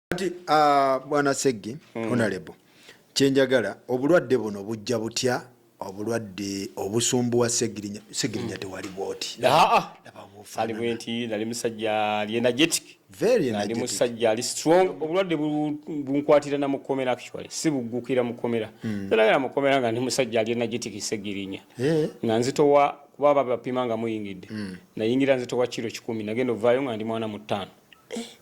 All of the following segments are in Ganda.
kati uh, bwana seggi mm. honalebo kyenjagala obulwadde buno bujja butya obulwadde obusumbu wa segirinya segirinya hmm. tewali bwoti ali bwenti nali musajja ali energetic very energetic nali musajja ali strong obulwadde bunkwatira na mukomera actually si bugukira mukomera hmm. nalagala mukomera nga ndi musajja ali energetic segirinya eh. nga nzitowa kuba baba bapima nga muyingidde hmm. nayingira nzitowa kiro kikumi nagenda ovaayo nga ndi mwana mu ttaano eh.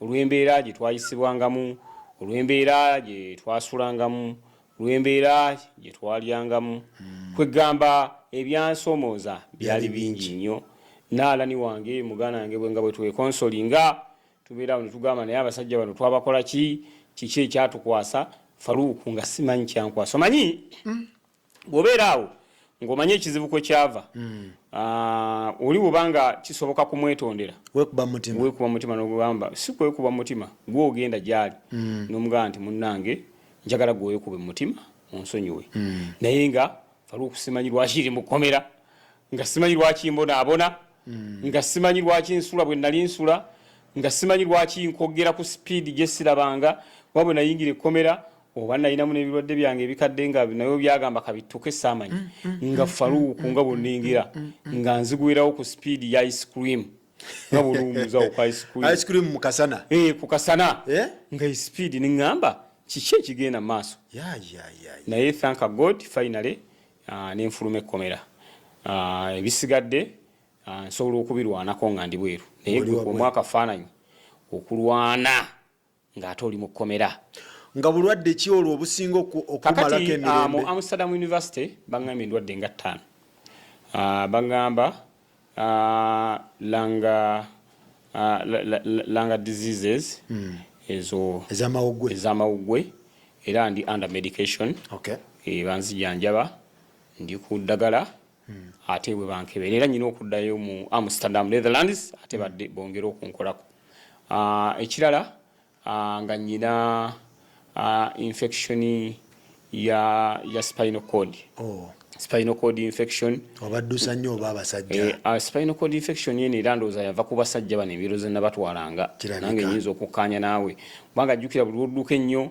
olw'embeera gye twayisibwangamu, olw'embeera gye twasulangamu, olw'embeera gye twalyangamu, hmm. kweggamba ebyansomooza byali bingi nnyo. Naalani wange muganda wange bwe nga bwe twekonsoli nga tubeera awo ne tugamba naye abasajja bano twabakola ki, kiki ekyatukwasa Faruuku nga simanyi kyankwasa omanyi hmm. bwobeera awo ng'omanyi ekizibu kwe kyava hmm. ah, oli woba nga kisoboka kumwetondera wekuba mutima nogamba si kwekuba mutima gwe ogenda gyali hmm. nomugamba nti munnange njagala gwe wekube mumutima onsonyiwe hmm. naye nga faliwo kusimanyi lwaki iri mukomera nga simanyi lwaki mbonaabona nga simanyi lwaki nsula bwe nali nsula nga simanyi lwaki nkogera ku sipiidi gye sirabanga wabwe nayingira ekkomera oba nalinamu nebirwadde byange ebikadde nga nayo byagamba kabittuke saamanyi mm, mm, nga mm, faluuku nga bweningira nga nzigwerawo ku sipiidi ya ice cream nga bwoluwumuzawo ku ice cream ice cream mu kasana ee eh, ku kasana eh? nga isipiidi neŋŋamba kiki ekigenda mu maaso naye thank god finally ah, nenfuluma ekkomera ah, ebisigadde ah, nsobola okubirwanako nga ndi bweru naye gwe omwaka faananyi okulwana nga ate oli mukkomera nga bulwadde ki olwo obusinga okumalako emirembe ah, mu amsterdam university bagamba endwadde nga ttaano ah, bagamba ah, langa langa diseases hmm. ezo ezamawuggwe era ndi under medication okay. Eh, banzijanjaba ndi ku ddagala hmm. ate bwe bankebera era nyina okuddayo mu amsterdam netherlands ate hmm. badde bongere okunkolako ah, ekirala ah, nga nyina ah, infection ya, ya spinal cord oh. spinal cord infection obaddusa nnyo oba abasajja eh, uh, spinal cord infection yene era ndowooza yava ku basajja bano emiroze nabatwalanga nange nyinza okukkaanya naawe kubanga jjukira buli wodduka ennyo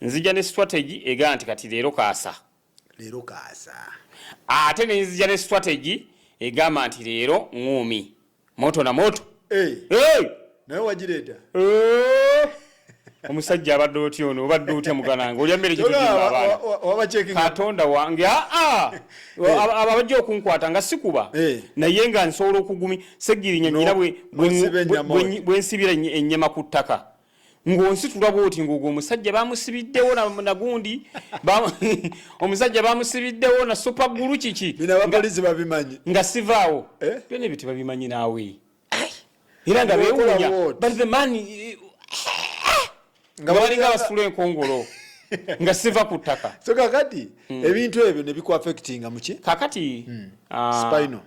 nzija ne strategy egamba nti kati leero kaasa leero kaasa ate ne nzija ne strategy egamba nti leero ŋŋuumi moto na moto hey. Hey. naye wagireeta hey. omusajja abadde otya ono obadde otya mugananga olya mmere kitokatonda wange aa ah, ah. eh. abajja okunkwata nga sikuba eh. naye nga nsobola okugumi segirinya nyina bwensibira ennyama ku ttaka ng'onsitula bwoti ng'ogwo omusajja bamusibiddewo nagundi omusajja bamusibiddewo na supa gulu kiki binabapolisi babimanyi nga sivaawo eh? byona ebyo tebabimanyi naawe era nga bewunya but the man eh, nga balinga basula enkongolo nga siva ku ttaka so kakati hmm. ebintu ebyo ne bikuafectinga muki kakati hmm. ah, spinal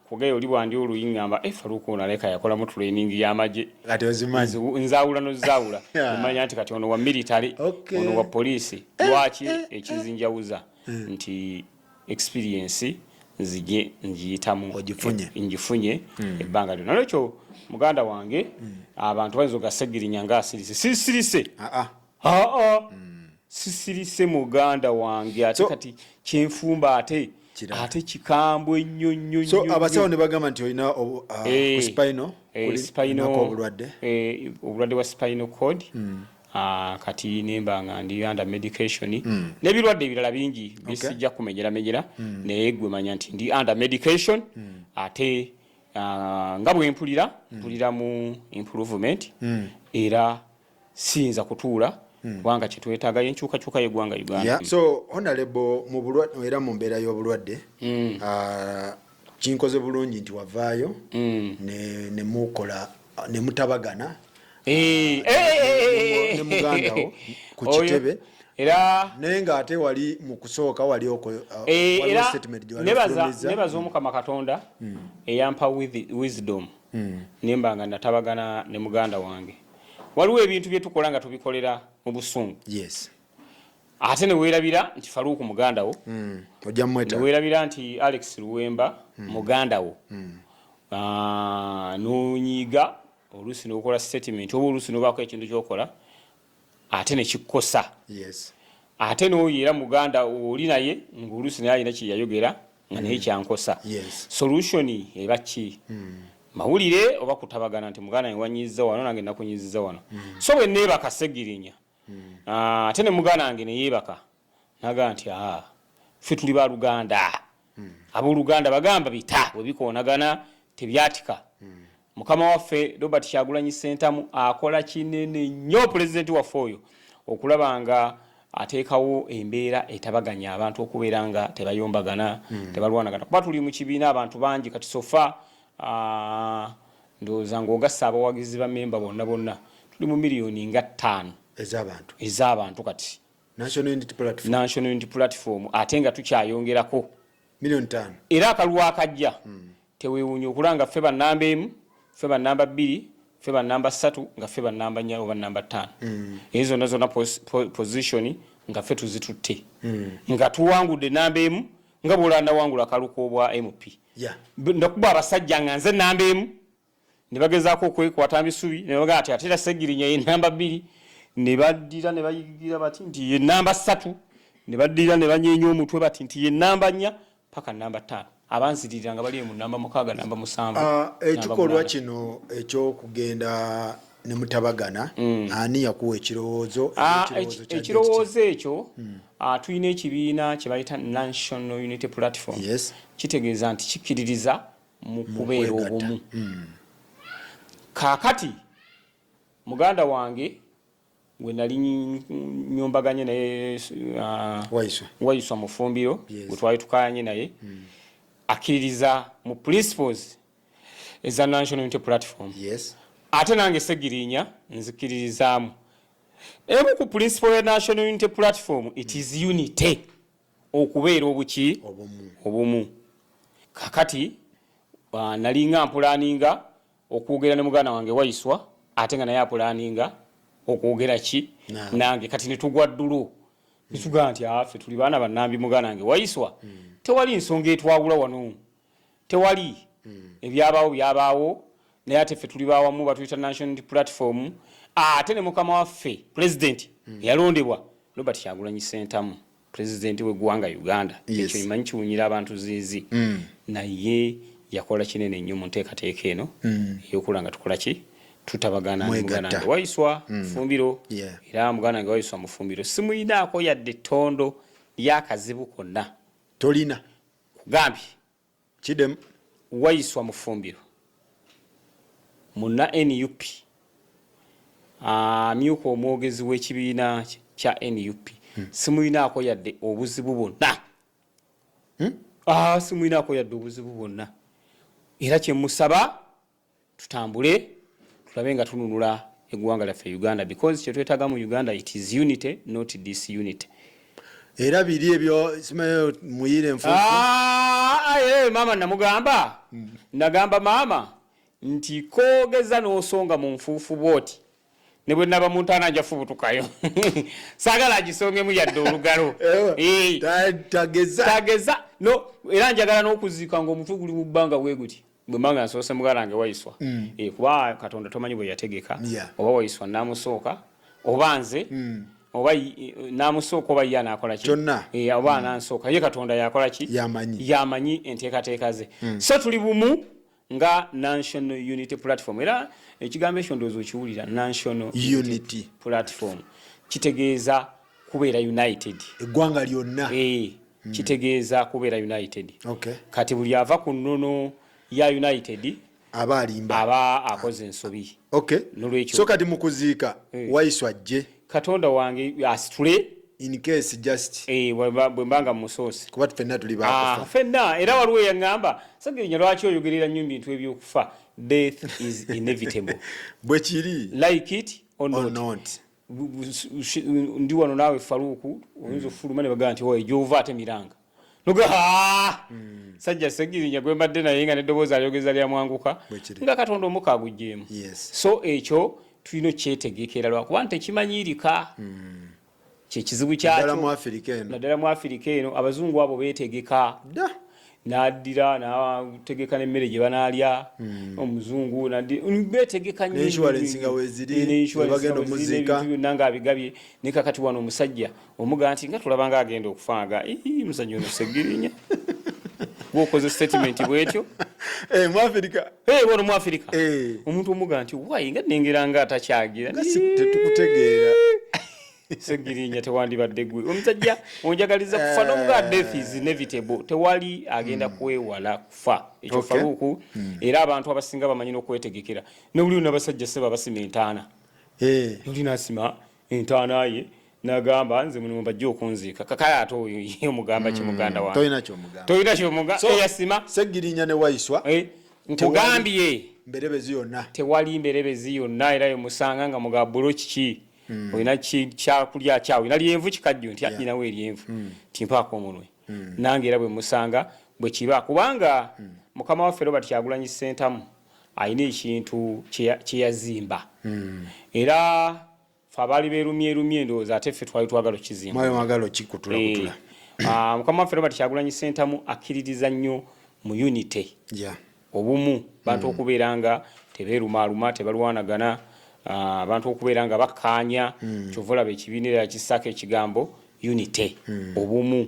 kugayo oli bwandi oluyi ngamba e eh, faluuka ono aleka yakolamu training y'amagye kati ozimanyi nzaawula nozaawula omanya nti kati ono wa military ono wa poliisi eh, lwaki eh, ekizinjawuza hmm. nti experience nzije njiyitamu ogifunye ngifunye hmm. ebbanga lyona nolwekyo muganda wange hmm. abantu bayinza ogasegirinya nga asirise sisirise ah, ah. aa mm. sisirise muganda wange ate so, kati kyenfumba ate ate kikambwe nnyo nnyo so abasawo ne bagamba nti olina uh, hey, eh, spino hey, eh, obulwadde hey, eh, obulwadde bwa spino code mm. Ah, kati nemba nga ndi under medication mm. nebirwadde ebirala bingi bisijja okay. kumenyera menyera mm. naye gwe manya nti ndi under medication mm. ate uh, nga bwempulira mm. mpulira mu improvement mm. era siyinza kutuula hmm. kubanga kyetwetaaga yenkyukakyuka yegwanga uganda so honalebo mubulwadde era mu mbeera y'obulwadde hmm. ah, kinkoze bulungi nti wavaayo hmm. nemukola nemutabagana eh, ah, eh, eh, nemugandawo ku kitebe era naye nga ate wali mu kusooka wali uh, eh, nebaza omukama katonda hmm. eyampa wisdom hmm. nemba nga natabagana ne muganda wange waliwo ebintu bye tukola nga tubikolera mu busungu yes ate ne weerabira nti faluuku muganda wo mm. ojja mumweta ne weerabira nti alex luwemba mm. muganda wo mm. Ah, nonyiiga oluusi nokola statement oba oluusi nobaako ekintu kyokola ate nekikukosa ate noyo era muganda oli naye ngaoluusi naye alina kyeyayogera nga naye kyankosa solution eba ki hmm. mawulire oba kutabagana nti muganda wange wanyiiza wano nange nakunyiziza wano hmm. so bwe neebaka segirinya hmm. ah, ate ne muganda wange neyeebaka naga nti aa ffe tuli ba luganda abooluganda bagamba bita bwe bikoonagana tebyatika Mukama waffe Robert Kyagulanyi Ssentamu akola kinene nnyo pulezidenti waffe oyo okulaba nga ateekawo embeera etabaganya abantu okubeera nga tebayombagana hmm. tebalwanagana kuba tuli mu kibiina abantu bangi kati sofa ndowooza ng'ogasse abawagizi ba memba bonna bonna tuli mu miliyoni nga ttaano ez'abantu ez'abantu kati national unity platform ate nga tukyayongerako miliyoni ttaano era akalwa akajja hmm. Tewewunya okula nga ffe ba namba emu, ffe ba namba bbiri, ffe ba namba ssatu, nga ffe ba namba nya oba namba ttaano. Mm. Eyo zonna zonna position nga ffe tuzitutte. Mm. Nga tuwangudde namba emu nga bwolanda wangula kaluku obwa MP. Yeah. Ndakuba abasajja nga nze namba emu ne bagezaako okwekwata misubi ne bagaa ati atera segirinya ye namba bbiri ne baddira ne bayigira bati nti ye namba ssatu ne baddira ne banyeenya omutwe bati nti ye namba nnya paka namba ttaano abanziririra nga bali mu namba mukaaga namba musanvu ah, ekikolwa kino ekyokugenda ne mutabagana mm. ani yakuwa ekirowoozo ah, ekirowoozo ekyo mm. ah, tulina ekibiina kye bayita national unity platform kitegeeza nti kikkiririza mu kubeera obumu mm. kaakati muganda wange gwe nali nyombaganye naye uh, wayiswa mufumbiro gwe twali tukayanye naye hmm. akkiririza mu principles eza national unity platform ate nange segirinya nzikiririzaamu emu ku principle ya national unity platform it is hmm. unity okubeera obuki obumu kakati uh, nalinga mpulaninga okwogera ne muganda wange waiswa ate nga naye apulaninga okwogera ki nange kati netugwa ddulu nitugaa nti afe tuli baana banambi muganda wange waiswa tewali nsonga etwawula wano tewali ebyabaawo byabaawo naye ate ffe tuli bawamu batuyita national platform ate ne mukama waffe pulezidenti eyalondebwa robert kyagulanyi sentamu president we gwanga Uganda yes. ekyo imanyi kiwunyira abantu zizi mm. naye yakola kinene nnyo mu nteekateeka eno mm. eyokula nga tukola ki tutabagana mugana nga waiswa mm. fumbiro yeah. era mugana nga waiswa mufumbiro simuyinaako yadde tondo lyakazibu konna tolina gambye Kidem Waiswa Mufumbiro munna nup amyuka omwogezi w'ekibiina kya nup hmm. simulinaako yadde obuzibu bwonna hmm? ah, simulinaako yadde obuzibu bwonna era kyemusaba tutambule tulabe nga tununula eggwanga lyaffe uganda because kyetwetaga mu uganda it is unity not this unity era biri ebyo simayo muyire enfufu ah, ah, eh, eh, mama namugamba hmm. nagamba mama nti kogeza nosonga mu nfuufu bwoti ne bwe naba muntaana nja fubutukayo saagala agisongemu yadde olugalo eh, tageza no era njagala n'okuziika ng'omutwe guli mu bbanga bwe guti bwe mbanga nsoose mugalange wayiswa mm. eh, kuba katonda tomanyi bwe yategeka oba wayiswa namusooka oba nze mm. oba namusooka oba ye anaakola ki eh, oba mm. anansooka ye katonda yakola ki yamanyi enteekateeka ze so tuli bumu nga national unity platform era ekigambo ekyo ndowooza okiwulira national unity platform kitegeeza kubeera united eggwanga lyonna eh, hmm. kitegeeza kubeera united kati buli ava ku nnono ya united aba alimba aba akoze ensobi nolwekyo so kati mukuziika eh. waiswa jje katonda wange asitule in case just eh bwembanga musosi kuba fenna tuli ba ah, fenna era waliwo yangamba sagirinya lwaki oyogerera nnyo bintu ebyokufa death is inevitable bwe kiri like it or not, or not. ndi wano naawe faluuku oyinza mm. ofuluma ne bagamba nti oyo gyova ate miranga hmm. sajja segirinya gwe mbadde naye nga neddoboozi alyogeza lyamwanguka nga katonda omuka agugyemu so ekyo tulina okyetegekera lwakuba nti tekimanyirika hmm. kyekizibu kyakyo naddala mu afirika eno abazungu abo betegeka nadira nategeka nemmere gye banaalya hmm. omuzungu betegeka nyoinsurance nga weziri bagenda omuzika byonna nga abigabye naye kakati wano omusajja omuga nti nga tulaba nga agenda okufa nga muzanyo ono segirinya gwokoze statement bwetyo eh, muafirika eh, wano muafirika eh. omuntu omuga nti wayi nga nengera nga atakyagira tetukutegeera segirinya tewandibadde gwe omusajja onjagaliza kufa nomuga death is inevitable tewali agenda hmm. kwewala kufa ekyo faruku hmm. era abantu abasinga bamanyi nokwetegekera nobuli nabasajja seba basima entaana noli nasima entaana ye nagamba nze muno mbajja okunziika kakale ate oyo ye omugamba ki hmm, muganda wange tolina kyomugamba tolina kyomugamba eyasima eh, segirinya ne waiswa eh, nkugambye mberebezi yonna tewali mberebezi yonna era yomusanga nga mugaba bulo kiki hmm. olina kyakulya kyawe olina lyenvu kikajjo nti anyinawo eryenvu hmm. timpaako omunwe nange era bwe musanga bwe kiba kubanga mukama waffe robert kyagulanyi sentamu Alina ekintu kye yazimba era ffe abaali beerumyerumye endowooza ate ffe twali twagala okukizimba. Mukama waffe Robert Kyagulanyi Ssentamu akkiririza nnyo mu unity, obumu, abantu okubeera nga tebeerumaaluma, tebalwanagana, abantu okubeera nga bakkaanya. Ky'ova olaba ekibiina era yakissaako ekigambo unity, obumu.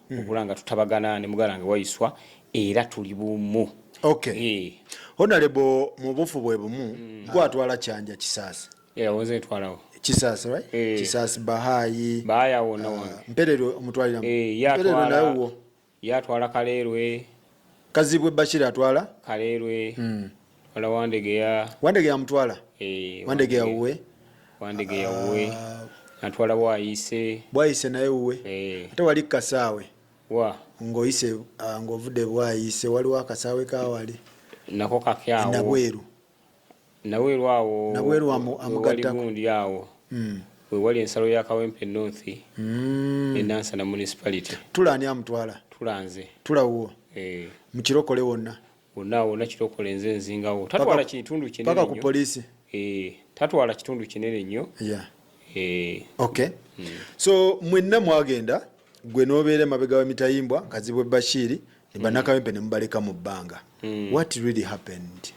hmm. okula nga tutabagana ne mugala nge wayiswa era tuli bumu okay. hey. Eh. honalebo mu bufu bwe bumu mm. gwatwala kyanja kisaasi yeah, kisasi right eh. kisasi bahayi bahaya ah, wona wona mperero omutwalira eh, mperero naye wo yatwala kalerwe kazibwe bashira atwala kalerwe mm. Wala Wandegeya. Wandegeya mutwala. Eh, Wandegeya uwe. Wandegeya uwe. Ah. Natwala bwayise. Bwayise naye uwe. Eh. Ate wali kasaawe. Wa. Ngoyise ah, ngovude bwayise waliwo akasaawe kawali. Nako kakyawo. Nabweru. Nabweru awo. Nabweru amu amugatta. Wali gundi awo. Mm. We wali ensalo ya Kawempe North. Mm. Enansa na municipality. Tula ani amutwala. Tula nze. Tula uwo. Eh. Mukirokole wonna. wonna wonna kirokole nze nzingawo tatwala kitundu kinene paka ku police eh tatwala kitundu kinene nnyo yeah eh okay mm. so mwenna mwagenda gwe nobeere mabega wa mitayimbwa kazibwe bashiri ne banakawempe mm. ne mubaleka mu bbanga mm. what really happened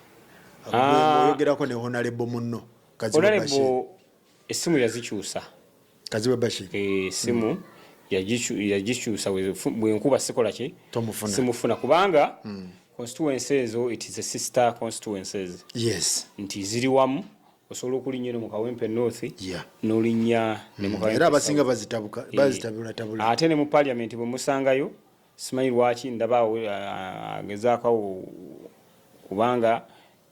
ah. oyogerako ne honalebo munno kazibwe bashiri Essimu yazikyusa. Kazibwe Bashir. Eh, essimu mm. yagikyusa bwenkuba sikola ki simufuna kubanga mm. constituency ezo it is a sister constituencies yes nti ziri wamu osobola okulinya eno mu kawempe north yeah. nolinya hmm. era abasinga bazitabulatabula eh. ate ne mu parliament bwe musangayo simanyi lwaki ndaba uh, agezaakawo kubanga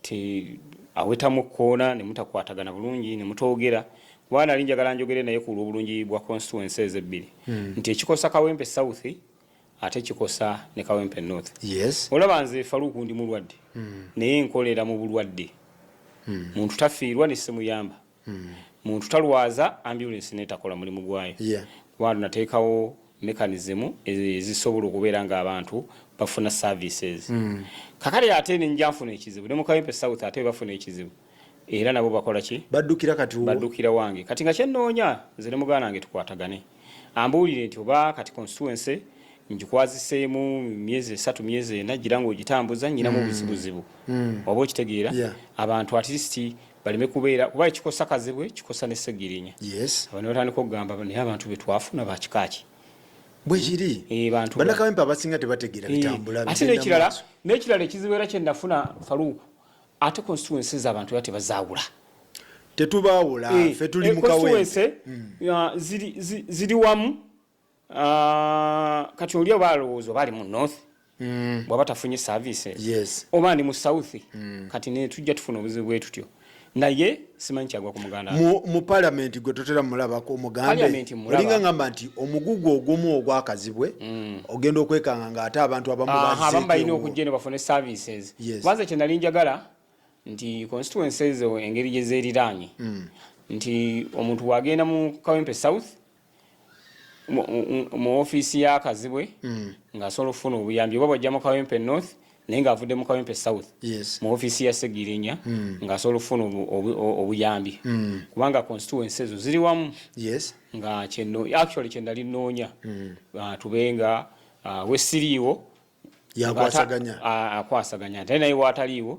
ti awetamu ekkoona ne mutakwatagana bulungi ne mutoogera kuba nali njagala njogere naye ku lw'obulungi bwa constituency ezo ebbiri hmm. nti ekikosa kawempe south ate kikosa ne kawempe north yes. olaba nze faluuku ndi mulwadde hmm. naye nkolera mu bulwadde hmm. muntu tafiirwa ne simuyamba hmm. muntu talwaza ambulance netakola mulimu gwayo kuba nateekawo mechanism ezisobola okubeera nga abantu bafuna services hmm. kakale ate nenja nfuna ekizibu ne mukawempe south ate bafuna ekizibu era nabo bakola ki baddukira kati baddukira wange kati nga kyenoonya nze ne muganda wange tukwatagane ambuulire nti oba kati constituency njikwaziseemu myezi esatu myezi ena gira nga ogitambuza nyinamu hmm. obuzibuzibu hmm. oba okitegeera abantu at least baleme kubeera kuba ekikosa kazibwe kikosa ne segirinya yes abantu batandika okugamba naye abantu betwafuna bakikaaki bwekiri eh, banakawempe abasinga tebategeera eh, bitambula ate nekirala nekirala ekizibu era kyenafuna faluuku ate constituency zabantu era tebazaawula tetubaawula eh, fe tuli mukawense hmm. ziri wamu Ah, kati oli oba alowooza oba ali mu north mm. bwaba tafunye service yes. oba ndi mu south mm. kati netujja tufuna obuzibu bwetutyo naye simanyi kyagwa ku muganda mu palamenti gwe totera mulabako omugambeolinga ngamba nti omugugu ogumu ogwakazibwe mm. ogenda okwekanga nga ate abantu abamuabamu balina okujja eno bafune services kubanza kyenali njagala nti constituency ezo engeri gyezeriraanye mm. nti omuntu wagenda mu kawempe south mu ofiisi ya Kazibwe mm. ng'asobola okufuna obuyambi oba bwajja mu Kawempe North naye ng'avudde mu Kawempe South mu ofiisi ya Ssegirinya mm. ng'asobola okufuna obuyambi mm. kubanga constituency ezo ziri wamu nga kyenno actually kye nali nnoonya ah, tube nga ah, wesiriiwo akwasaganya ate naye waataliiwo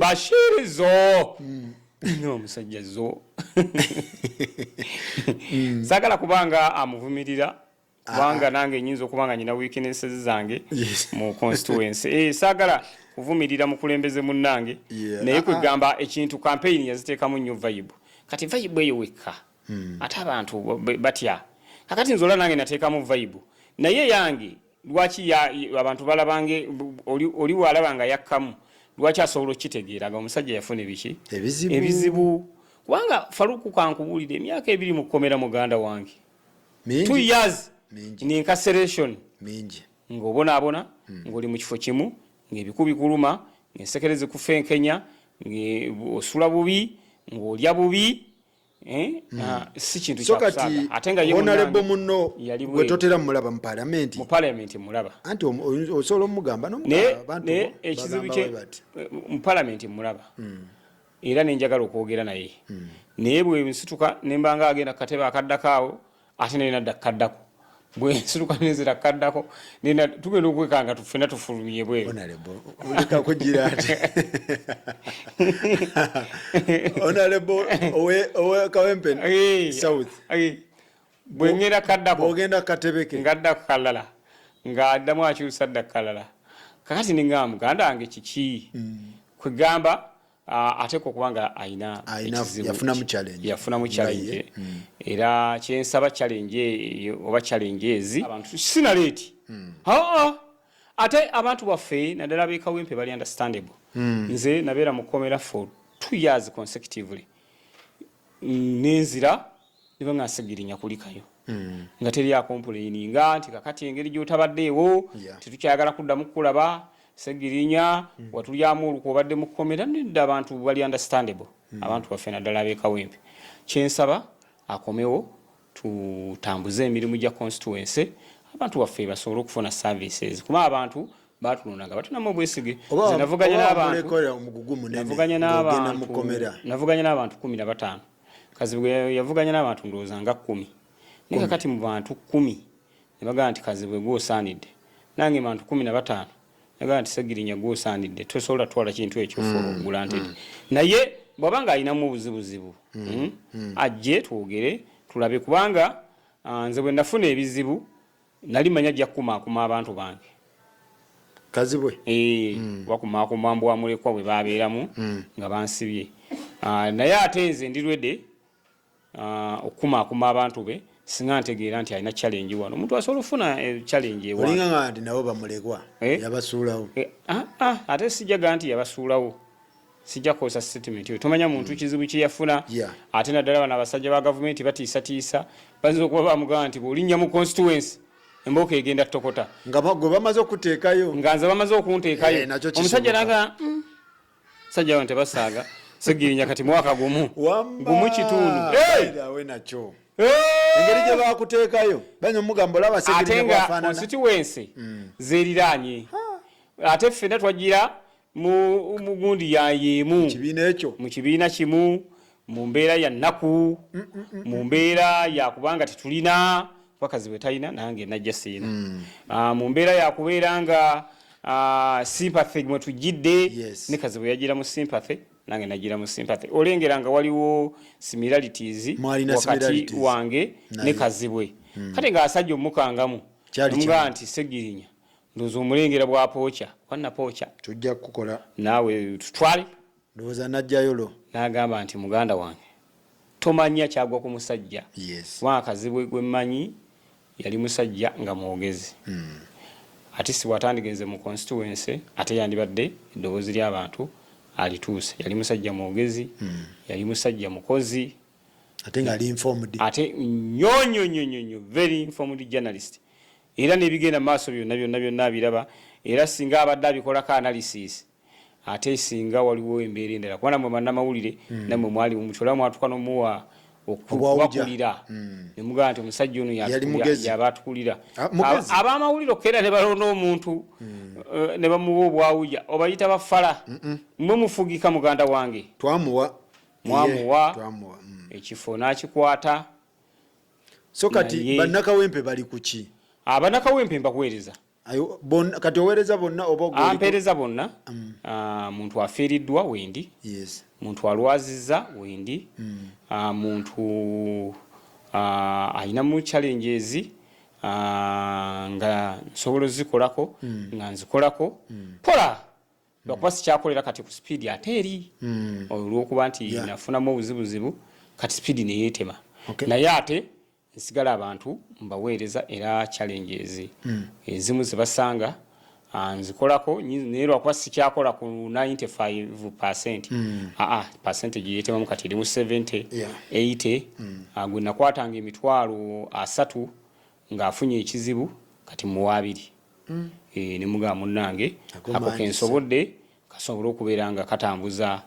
bashiri zo hmm. no omusajja zo hmm. sagala kubanga amuvumirira kubanga ah. nange nyinza okubanga nyina weaknesses zange mu constituency eh, sagala kuvumirira mukulembeze munnange naye ah, ah. kwegamba ekintu campaign yaziteekamu nnyo vibe kati vibe eyo wekka hmm. ate abantu batya kakati nzola nange nateekamu vibe naye yange lwaki abantu balabanga oli walaba nga yakkamu lwaki asobola okukitegeera nga omusajja yafuna ebiki ebizibu kubanga faluku kankubuulire emyaka ebiri mu kkomera muganda wange two years in incarceration ng'obonaabona hmm. ng'oli mu kifo kimu ng'ebiku bikuluma ng'ensekere zikufenkenya ng'osula bubi ng'olya bubi Eh? Hmm. Ah, si kintu so kati honalebo muno wetotera mulaba mu palamenti mu palamenti mulaba anti osobola omugamba naye ekizibu kye eh, mu palamenti mulaba hmm. era nenjagala okwogera naye hmm. naye bwensituka nembanga agenda katebe akaddakaawo ate naye nadda kaddako bwensiruka nenzira kaddako nena tugenda okwekanga tufena tufulumye bwebwengera kaddakoogenda katebeke ngaddako kalala ngaaddamu akyusa dda kalala kakati ninga muganda wange kiki mm. kwegamba Ah, ate ko kubanga aina yafuna mu challenge yafuna mu challenge hmm. era kyensaba challenge e, oba challenge ezi abantu sina late hmm. haa ate abantu baffe nadala be kawempe bali understandable hmm. nze nabera mu komera for 2 years consecutively nenzira ne bwe ng'asigirinya kulikayo nga teri akompuleyini nga nti kakati engeri gy'otabaddeewo tetukyagala kuddamu kukulaba segirinya watulyamu olukwe obadde mu kkomera nedda abantu bali understandable abantu baffe naddala ab'ekawempe kyensaba akomewo tutambuze emirimu gya constituency abantu baffe basobole okufuna services kuba abantu batulonda nga batunamu obwesige navuganya n'abantu navuganya n'abantu kumi na bataano Kazibwe gwe yavuganya n'abantu ndowooza nga kkumi naye kakati mu bantu kkumi ne bagamba nti Kazibwe gwe osaanidde nange bantu kkumi na bataano nagamba nti Ssegirinya gwe osaanidde tosobola twala kintu ekyo for mm, granted mm. naye bwaba nga alinamu obuzibuzibu mm, hmm, hmm. ajje twogere tulabe kubanga ah, nze bwe nafuna ebizibu Nali manya ajja kukumaakuma abantu bange. Kazibwe? Eeh, mm. bakumaakuma mbwa mulekwa bwe babeeramu mm. nga bansibye. Uh, naye ate nze ndi rwede uh, ah, okukumaakuma abantu be singa ntegeera nti alina challenge wano omuntu asobola okufuna eh, challenge ewaolinga nga nti nabo bamulekwa eh? yabasuulawo eh, ah, ah, ate sijaga nti yabasuulawo sijja kukozesa statement eyo tomanya muntu mm. kizibu kye yafuna ate naddala bano abasajja ba gavumenti batiisatiisa bayinza okuba bamugamba nti bw'olinnya mu constituency embooko egenda tokota nga gwe bamaze okuteekayo nga nze bamaze okunteekayo eh, omusajja naga mm, sajja bano tebasaaga segirinya kati mwaka gumu gumu kitundu nakyo engeri gye bakuteekayo banya omugambo olaba segirinya bwafaanana ate nga constituency mm. zeeriraanye ate ffena twagira mu mugundi ya yemu kibiina ekyo mu kibiina kimu mu mbeera ya nnaku mm, mm, mm, mu mbeera ya kubanga tetulina bakazi bwe talina nange najja siina hmm. ah, mu mbeera ya kubeera nga ah, sympathy mwe tujjidde ne kazi bwe yajjira mu sympathy nange najjira mu sympathy olengera nga waliwo similarities wakati wange ne kazibwe hmm. kati nga asajja omukangamu nga nti segirinya ndoza omulengera bwa pooca wanna pooca tujja kukukola naawe tutwale ndowooza najjayolo n'agamba nti muganda wange tomanya kyagwa ku musajja yes. wakazibwe gwe mmanyi yali musajja nga mwogezi mm. ati sibwatandigenze mu constituency ate yandibadde eddoboozi ly'abantu alituuse yali musajja mwogezi mm. yali musajja mukozi ate nga ali informed ate nyonyonyonyonyo very informed journalist era n'ebigenda mu maaso byonna byonna byonna abiraba era singa abadde abikolako analysis ate singa waliwo embeera endala kuba namwe bannamawulire mm. namwe mwali mumucola mwatuka nomuwa okubakulira hmm. nemugamba nti omusajja ono yaba atukulira ah, abamawulire okukeera ne balonda omuntu hmm. eh, ne bamuwa obwawuja obayita bafala mwe mufugika muganda wange twamuwa mwamuwa hmm. ekifo n'akikwata so kati bannakawempe bali kuki abanakawempe ah, mbakuweereza kati oweereza bonna obaampeereza ah, bonna mm. ah, muntu afiiriddwa wendi muntu alwaziza wendi mm. muntu alinamu challenges nga nsobola ozikolako mm. nga nzikolako pola lwakuba sikyakolera kati ku sipiidi ate eri hmm. olwokuba nti nafunamu obuzibuzibu kati sipiidi neyetema naye ate nsigala abantu mbaweereza era challenges hmm. ezimu zebasanga ah, nzikolako naye lwakuba sikyakola ku 95 percent hmm. aa ah, ah, percentage yetemamu kati erimu 70 80 gwe nakwatanga emitwalo asatu ng'afunye ekizibu kati muwaabiri mm. e, nemugamba munnange ako kensobodde kasobole okubeera nga katambuza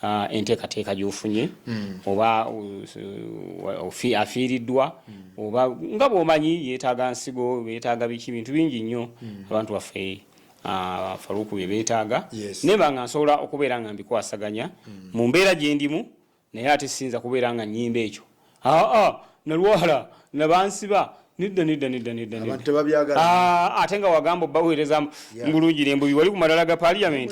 uh, enteekateeka gyofunye mm. oba uh, afiiriddwa mm. oba nga bwomanyi yeetaaga nsigo beetaaga biki bintu bingi nnyo mm. abantu baffe uh, faluuku bye beetaaga yes. nebanga nsobola okubeera nga mbikwasaganya mm. mu mbeera gyendimu Naye ate siyinza kubeera nga nnyimba ekyo. Aa, nalwala, na bansiba, nedda, nedda, nedda, nedda, nedda. Abantu tebabyagala. Aa, ate nga wagamba obbaweereza Yeah. bulungi n'embuyi wali ku madala ga Parliament.